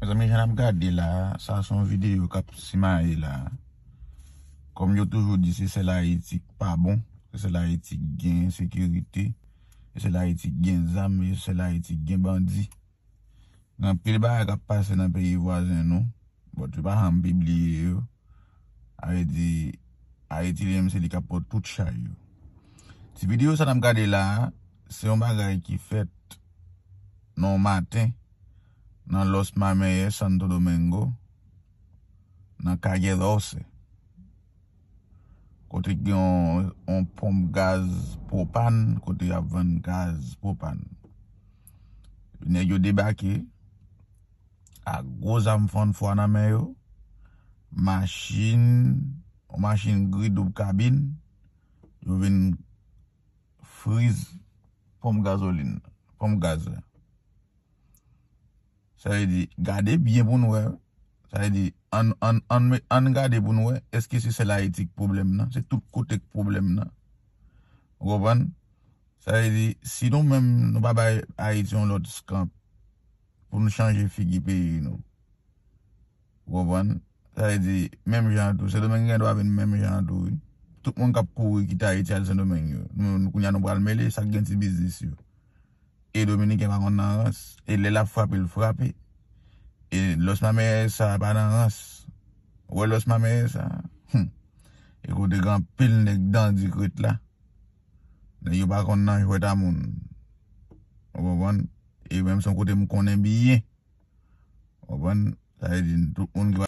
Mezanmi jan nap gade la sa son video kap simaye la kòm yo toujou di se sèl ayiti ki pa bon se sèl ayiti ki gen ensekirite se sèl ayiti ki gen zam se sèl ayiti ki gen bandi gen anpil bagay kap pase nan peyi vwazen nou bòt yo pa janm pibliye yo. Avè di Ayiti li menm se li kap pot tout chay yo. Ti video sa nap gade la, se yon bagay ki fèt nan yon maten nan Los Mameyes, Santo Domingo, nan Calle Doce. Kote ki gen yon ponp gaz pwopan, kote yap vann gaz pwopan. Nèg yo debake. ak gwo zam fann fwa nan men yo, machin, yon machin gri doub kabin, yo vin friz ponp gazolin nan, ponp gaz la. Sa vle di, gade byen pou nou wè, sa vle di, ann gade pou nou wè, eske se sèl Ayiti k pwoblèm nan, se tout kote k pwoblèm nan? Ou konprann? Sa vle di, si nou menm nou pa bay Ayiti yon lòt skanp. pou nou chanje figi peyi nou. Ou konprann? Sa vle di, menm jan an tou, Sendomeng gen dwa vin menm jan an tou wi. Tout moun k ap kouri kite Ayiti al Sendomeng yo, nou kounye a nou pral mele sa k gen ti biznis yo. E Dominiken pa konn nan rans. E lè l ap frape, l frape. E Los Mamerès sa a pa nan rans. Ou wè Los Mamerès sa a? Hum! E kote gen anpil nèg dandi krèt la. Nèg yo pa konn nan jwèt a moun. Ou konprann? E menm son kote m konnen byen. Ou konprann? Sa vle di tout moun ki pa.